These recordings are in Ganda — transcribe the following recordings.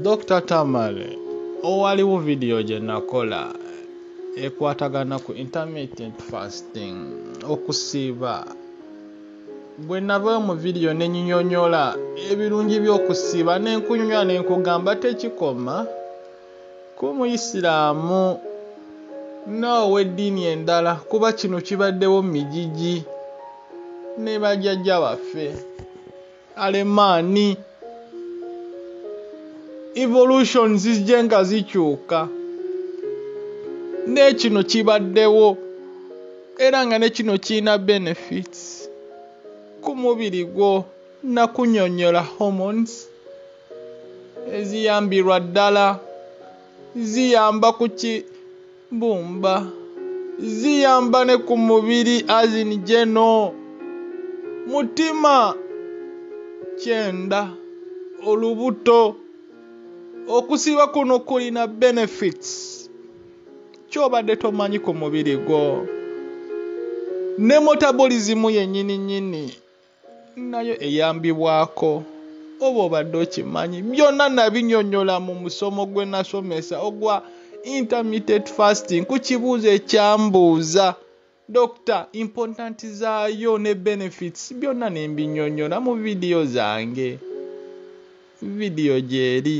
Dokita Tamale, owaliwo vidiyo gye nakola ekwatagana ku intermittent fasting okusiiba bwe nava mu vidiyo ne nyinyonyola ebirungi by'okusiiba ne nkunyumya ne nkugamba tekikoma ku muyisiraamu n'ow'eddiini endala kuba kino kibaddewo mu mijiji ne bajjajja baffe alemaani evolution zijje nga zikyuka nekino kibaddewo era nga nekino kirina benefits ku mubiri gwo nakunyonyola hormones eziyambirwa ddala ziyamba kuki Bumba. Ziyamba ne ku mubiri as in geno. Mutima. Kyenda. Olubuto. Okusiiba kuno kulina benefits. Kyobadde tomanyi ku mubiri gwo. Ne metabolism yenyini nyini. nayo eyambibwako oba obadde okimanyi byonna nabinyonyola mu musomo gwe nasomesa ogwa intermittent fasting ku kibuuzo ekyambuuza dokita important zaayo ne benefits byonna nembinyonyola mu vidiyo zange vidiyo gyeri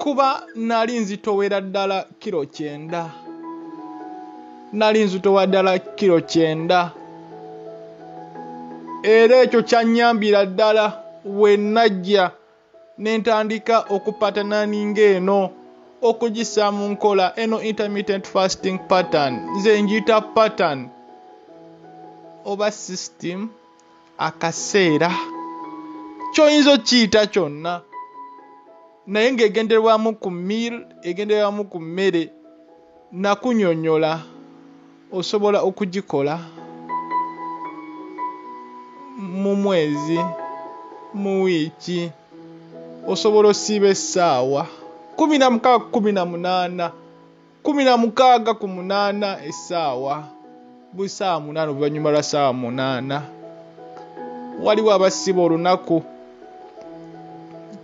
kuba nali nzitowera ddala kiro kyenda nali nzitowa ddala kiro kyenda era ekyo kyannyambira ddala we najja ne ntandika okupatananinga eno okugissa mu nkola eno intermittent fasting pattern nze njita pattern oba system akaseera kyoyinza okiyita kyonna naye ng'egenderwamu ku mil egenderwamu ku mmere nakunyonyola osobola okugikola mu mwezi mu wiiki osobola osiiba essaawa kumi na mukaaga kumi na munaana kumi na mukaaga ku munaana essaawa buli saawa munaana oluvannyuma lwa saawa munaana waliwo abasiba olunaku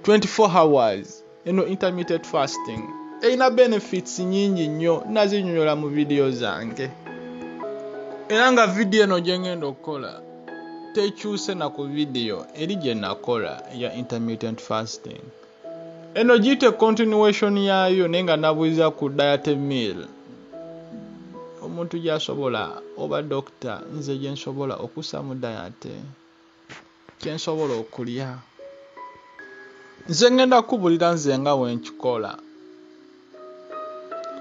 24 hours eno intermittent fasting erina benefits nyingi nnyo nazinyonyola mu vidiyo zange era nga vidiyo eno gye ngenda okukola tekyuse na ku vidiyo eri gye nakola eya intermittent fasting eno giyite continuation yaayo naye nga nabuuza ku diet meal omuntu gyasobola oba dokita nze gyensobola okusamu diet kyensobola okulya nze ngenda kubulira nze nga wenkikola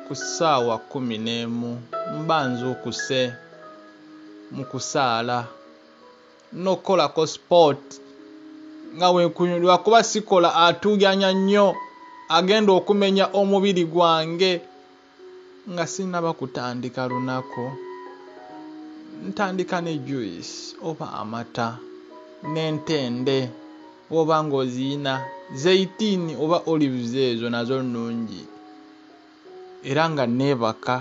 ku ssaawa kumi n'emu mba nzuukuse mu kusaala nokukolako sport nga wenkunyumira lwakuba sikola atuyanya nnyo agenda okumenya omubiri gwange nga sinaba kutandika lunaku ntandika ne juice oba amata n'entende woba nga oziyina zeitiini oba olives ezo nazo nnungi era nga neebaka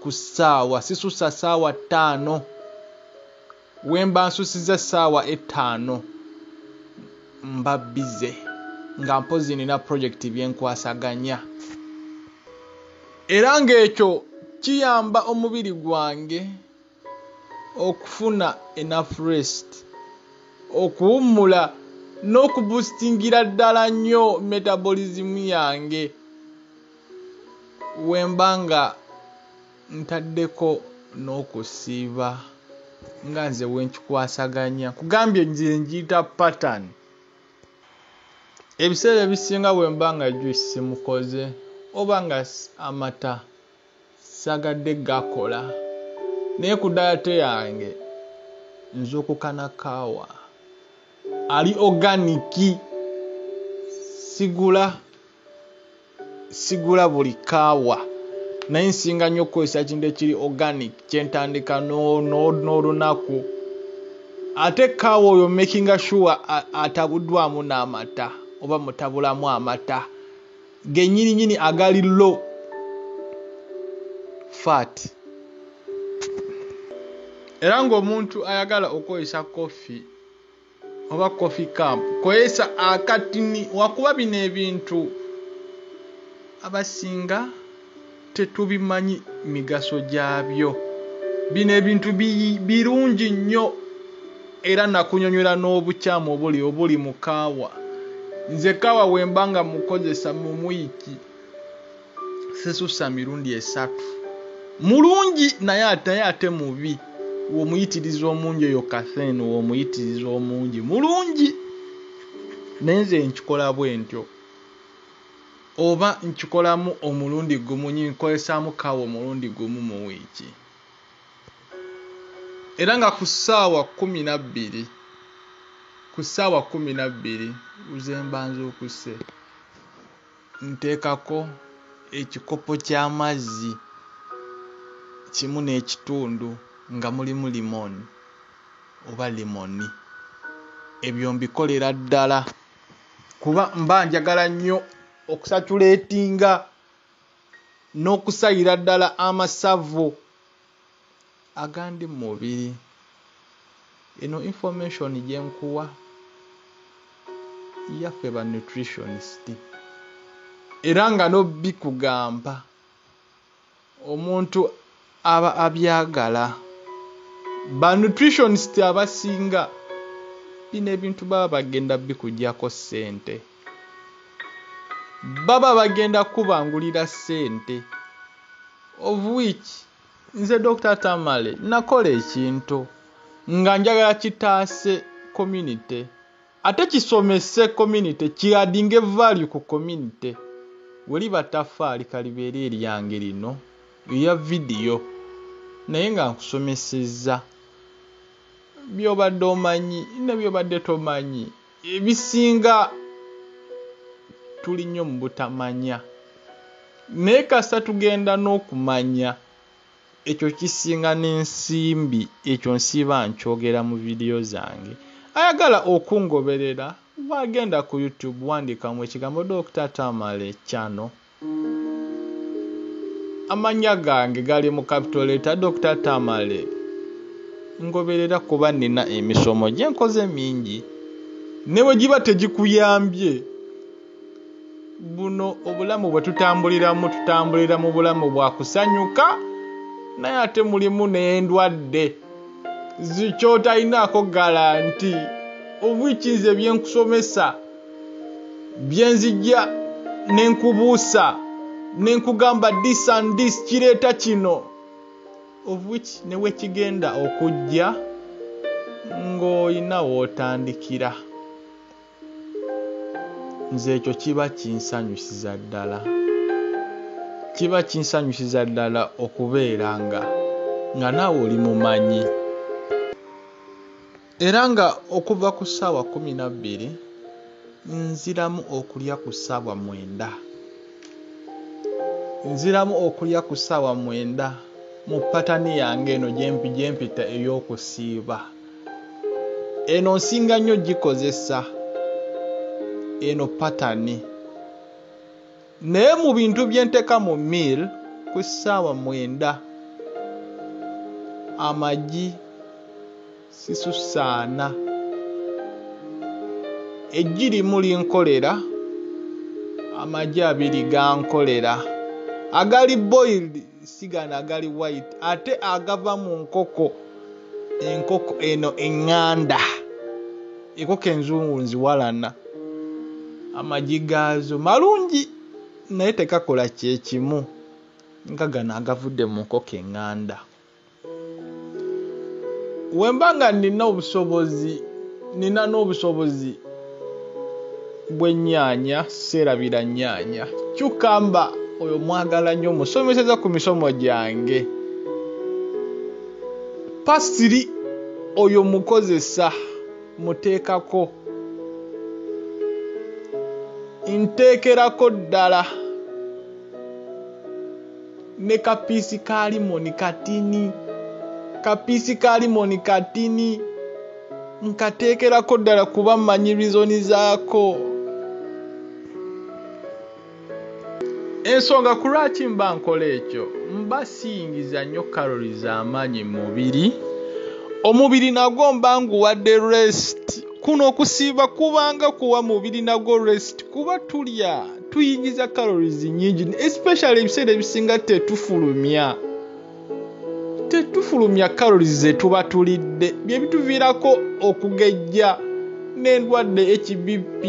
ku ssaawa sisussa ssaawa ttaano. Wemba nsusiza essaawa ettaano mba bize nga mpozi nina project byenkwasaganya era ng'ekyo kiyamba omubiri gwange okufuna enough rest okuwummula n'okubustingira ddala nnyo metabolism yange wemba nga ntaddeko n'okusiiba nga nze wenkikwasaganya kugambye nze njiyita pattern ebiseera ebisinga bwemba nga juice simukoze oba nga amata sagadde gakola naye ku dayate yange nzukukana kaawa ali oganiki sigula sigula buli kaawa naye nsinga nnyo okukozesa ekintu ekiri organic kyentandika n'olunaku ate kaawa oyo makinga sure atabuddwamu n'amata oba mutabulamu amata genyini nyini agali low fat era ng'omuntu ayagala okukozesa koffi oba coffee cup kozesa akatini wakuba bino ebintu abasinga tetubimanyi migaso gyabyo bino ebintu birungi nnyo era nakunyonyola n'obukyamu obuli obuli mu kaawa nze kaawa wemba nga mukozesa mumwiki sesusa mirundi esatu mulungi naye ataye ate mubi womuyitiriza omungi oyo kathen womuyitiriza omungi mulungi naye nze nkikola bwentyo oba nkikolamu omulundi gumu nyinkosaamu kawa omulundi gumu mu wiiki era nga ku ssaawa kumi nabbiri ku ssaawa kumi nabbiri uzembanza okusse Nteekako ekikopo ky'amazzi kimu n'ekitundu nga mulimu lemon oba lemoni. Ebyo mbikolera ddala kuba mba njagala nnyo okusatuleetinga n'okusayira ddala amasavu. agandi mu mubiri eno information gyenkuwa yaffe ba nutritionist era nga nobikugamba omuntu aba abyagala ba nutritionist abasinga bino ebintu baba bagenda bikujako sente baba bagenda kubangulira sente of which nze dr tamale nakola ekintu nga njagala kitaase community ate kisomese community kiadinge value ku community weliba tafaali kalibeere eryange lino eya vidiyo naye nga nkusomesezza byobadde omanyi ne byobadde tomanyi ebisinga tuli nnyo mu butamanya naye kasita tugenda n'okumanya ekyo kisinga n'ensimbi ekyo nsiiba nkyogera mu vidiyo zange ayagala okungoberera waagenda ku youtube wandiikamu ekigambo dokita tamale channel Amannya gange gali mu capital letter Dokita Tamale. Ngoberera kuba nnina emisomo gye nkoze mingi ne bwe giba tegikuyambye. Buno obulamu bwe tutambuliramu tutambulira mu bulamu bwa kusanyuka naye ate mulimu n'endwadde zikyotayinaako galanti obwikiize bye nkusomesa. bye nzija ne nkubuusa ne nkugamba this and this kireeta kino of which ne wekigenda okujja ng'olina w'otandikira nze ekyo kiba kinsanyusiza ddala kiba kinsanyusiza ddala okubeera nga nga naawe oli mumanyi Era nga okuva ku ssaawa kkumi na bbiri nziramu okulya ku ssaawa mwenda nziramu okulya ku ssaawa mwenda mu patani yange eno gyempita ey'okusiiba eno nsinga nnyo gikozesa eno patani Naye mu bintu bye nteka mu meal ku ssaawa mwenda amagi sisusaana eggi limu linkolera amagi abiri gankolera agali boiled sigana agali white ate agava mu nkoko enkoko eno eŋŋanda enkoko enzungu nziwalana amagi gaazo malungi naye tekakola kyekimu nga gano agavudde mu nkoko eŋŋanda wemba nga nina obusobozi nina n'obusobozi bw'ennyaanya seerabira nnyaanya kyukamba oyo mwagala nnyo musomeseza ku misomo gyange pasiri oyo mukozesa muteekako nteekerako ddala Ne ka piece ka limoni katini. Ka piece ka limoni katini. Nkateekerako ddala kuba mmanyi reason zaako. Ensonga ku lwaki mba nkola ekyo, mba siyingiza nnyo calories za maanyi mu mubiri. Omubiri nagwo mba nguwadde rest. Kuno okusiiba kubanga kuwa mubiri nagwo rest kuba tulya. tuyingiza calories nyingi especially ebiseera ebisinga tetufulumya tetufulumya calories zetuba tulidde byebituviirako okugejja n'endwadde hbp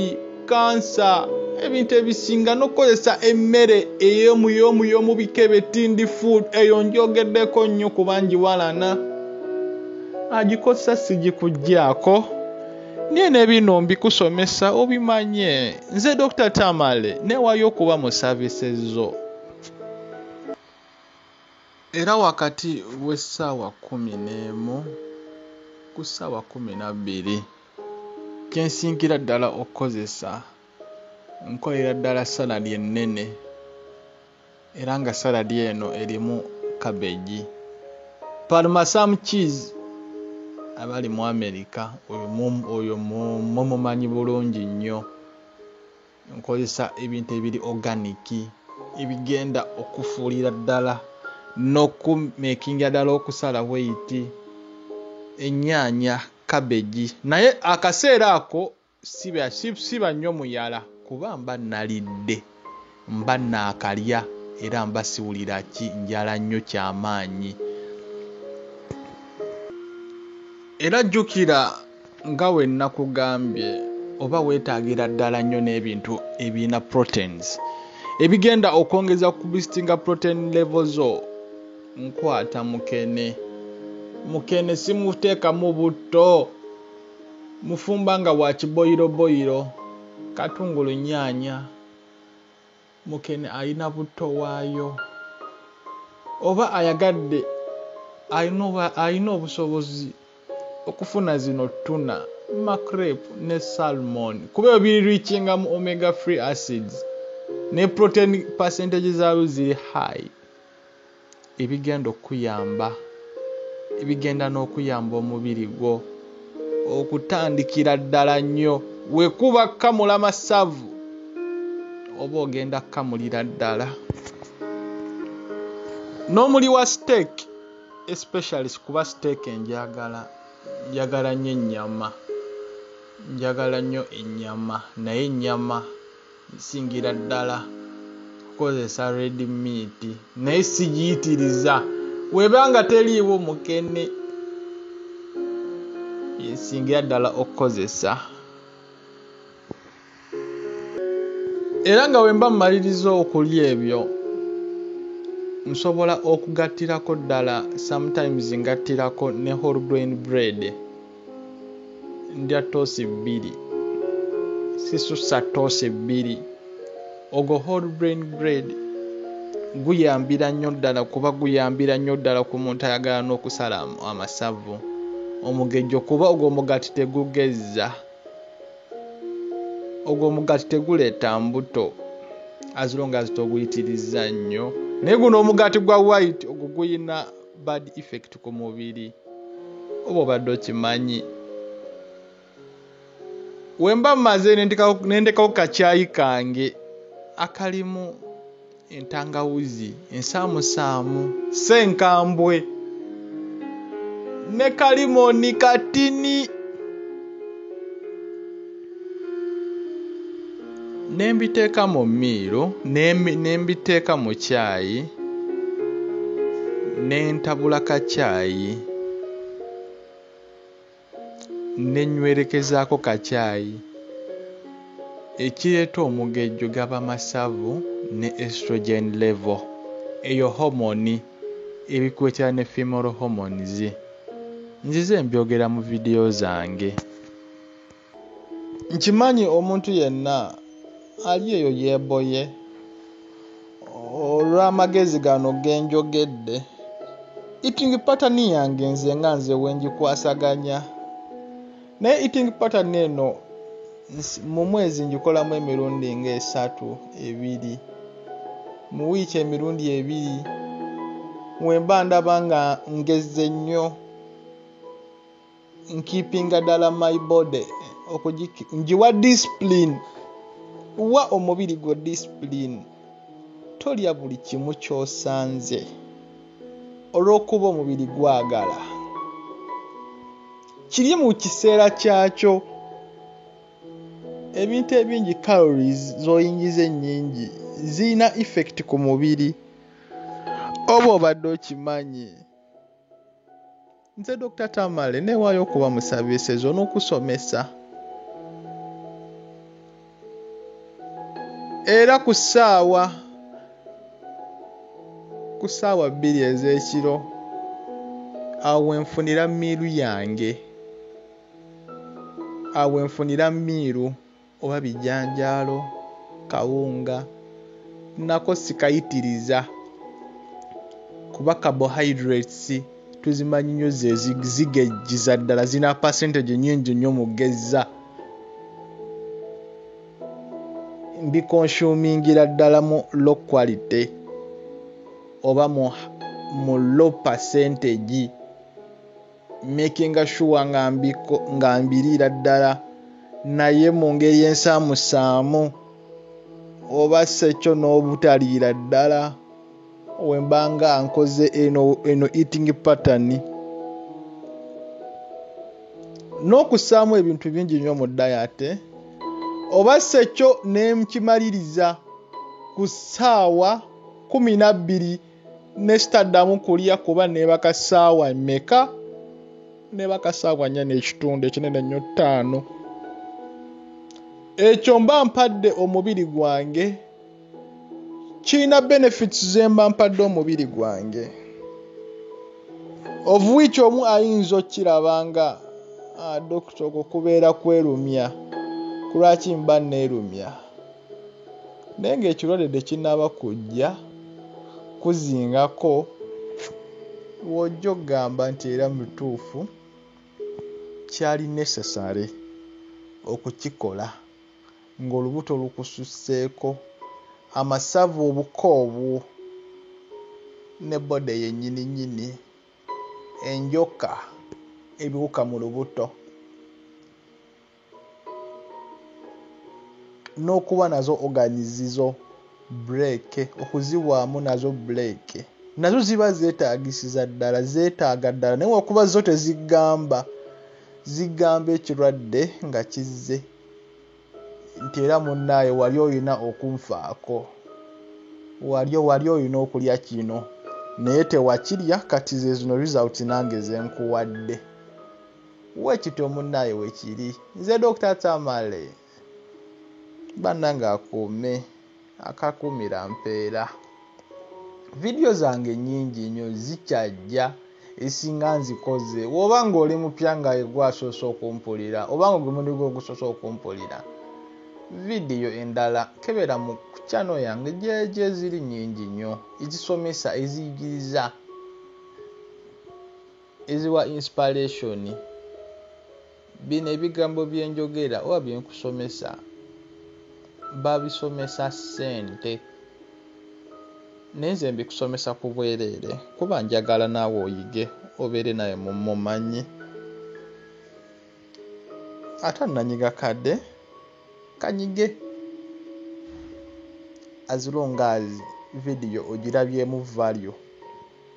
kansa ebintu ebisinga n'okukozesa emmere eyomuyomu yomubika ebetindi food eyo njogeddeko nnyo kubangi walana agikozesa sigikuggyako naye ne bino mbikusomesa obimanye nze dr tamale newayo okuba mu savise zo era wakati w'essaawa kumi n'emu ku ssaawa kumi na bbiri kensingira ddala okukozesa nkolera ddala saladi ennene Era nga salad eno erimu cabbage. Parmesan cheese abali mu America oyo mum oyo mum mumumanyi bulungi nnyo. Nkozesa ebintu ebiri organic ebigenda okufuulira ddala n'okumekingira ddala okusala bweyiti ennyaanya, cabbage naye akaseera ako Siba, si- siba nnyo muyala kuba mba nnalidde, mba nnaakalya era mba siwulira ki njala nnyo kya maanyi. Era jjukira nga bwe nnakugambye oba weetaagira ddala nnyo n'ebintu ebirina proteins ebigenda okwongeza ku kubisitinga protein level zo. Nkwata mukene. Mukene simuteekamu butto. Mufumba nga wa kiboyiroboyiro, katungulu, nnyaanya, mukene alina butto waayo oba ayagadde alina obusobozi okufuna zino ttuna, makrep ne salmon kuba ebyo biri ricinga mu omega free acids ne protein percentage zaayo ziri high. ebigenda okukuyamba, ebigenda n'okuyamba omubiri gwo okutandikira ddala nnyo. We kuba kukamula masavu oba ogenda kukamulira ddala. N'omuli wa siteeki especially kuba siteeki enjagala, njagala nnyo ennyama, njagala nnyo ennyama naye ennyama. Nsingira ddala kukozesa red meat naye sigiyitiriza weba nga teriiwo mukene yensingira ddala okukozesa era nga wemba mumaliriza okulya ebyo nsobola okugattirako ddala sometimes ngattirako ne horgrain bread. ndya toosi bbiri sisusa toosi bbiri ogwo whole brain bread guyambira nnyo ddala kuba guyambira nnyo ddala ku muntu ayagala n'okusala amasavu omugejjo kuba ogwo omugati tegugezza ogwo omugati teguleeta mbuto azilonga zitoguyitirizza nnyo naye guno omugati gwa white ogwo guyina bad effect ku mubiri oba obadde okimanyi wemba maze nendekawo kakyayi kange akalimu entangawuzi ensaamusaamu senkambwe ne kalimoni katini ne mbiteeka mu miiro ne mbiteeka mu kyayi ne ntabula ka kyayi ne nywerekezaako ka kyayi ekireeta omugejjo gaba masavu ne estrogen level eyo homoni ebikuletera ne female hormones nzize mbyogera mu vidiyo zange nkimanyi omuntu yenna ali eyo yeeboye olw'amagezi gano ge njogedde eating pattern yange nze nga nze wenjikwasaganya naye eating pattern eno mu mwezi njikolamu emirundi ng'esatu ebiri mu wiiki emirundi ebiri wemba ndaba nga ngezze nnyo nkipinga dala my body njiwa discipline wa omubiri gwo discipline tolya buli kimu kyosanze olwokuba omubiri gwagala kiri mu kiseera kyakyo ebintu ebingi calories zoyingiza ennyingi zirina effect ku mubiri oba obadde okimanyi nze dr tamale newaayo okuba mu saviises onokusomesa era ku ssaawa ku ssaawa bbiri ez'ekiro awo wenfunira miiru yange awo wenfunira miiru oba bijanjaalo kawunga nako sikayitiriza kuba carbohydrates tuzimanyi nyo zezigejjiza ddala zina percentage nyingi nyo mugezza mbikonsumingira ddala mu low quality oba mu low percentage makinga sure nga mbiriira ddala naye mu ngeri ensaamusaamu oba sekyo n'obutaliira ddala wemba nga nkoze eno eno eating pattern n'okussaamu ebintu bingi nnyo mu dayate oba sekyo ne nkimaliriza ku ssaawa kumi na bbiri nesitaddamu kulya kuba nebaka saawa meka nebaka saawa nya nekitundu ekinene nnyo ttaano ekyo mba mpadde omubiri gwange kirina benefits zemba mpadde omubiri gwange ovuwiiki omu ayinza okukiraba nga ah, dokita okwo kubeera kwerumya kulwaki mba neerumya naye ng'ekirwadde tekinnaba kujja kuzingako w'ojja okugamba nti era mu butuufu kyali necessary okukikola ng'olubuto lukususseeko, amasavu, obuko obwo ne body yennyininnyini, enjoka, ebiwuka mu lubuto. n'okuba nazo ogani zizo buleeke okuzibwamu nazo buleeke nazo ziba zeetaagisiza ddala zeetaaga ddala naye wakuba zo tezigamba zigamba ekirwadde nga kizze nti era munnaaye wali olina okunfaako wali wali olina okulya kino naye tewakirya kati ze zino results nange zenkuwadde Wekityo munaye wekiri nze Dokita Tamale banange akuume akakuumira mpeera video zange nyingi nyo zikyajja esinga nzikoze woba nga oli mupya nga egwe asoose okumpulira oba nga gwe mundi gwe ogusoose okumpulira vidiyo endala kebera mu kukyano yange gyeje ziri nyingi nyo ezisomesa eziyigiriza Eziwa inspiration. Bino ebigambo byenjogera oba byenkusomesa babisomesa sente naye nze mbikusomesa ku bwereere kuba njagala naawe oyige obeere nawe mumanyi ate nanyiga kadde kanyige as long as video ogirabyemu value.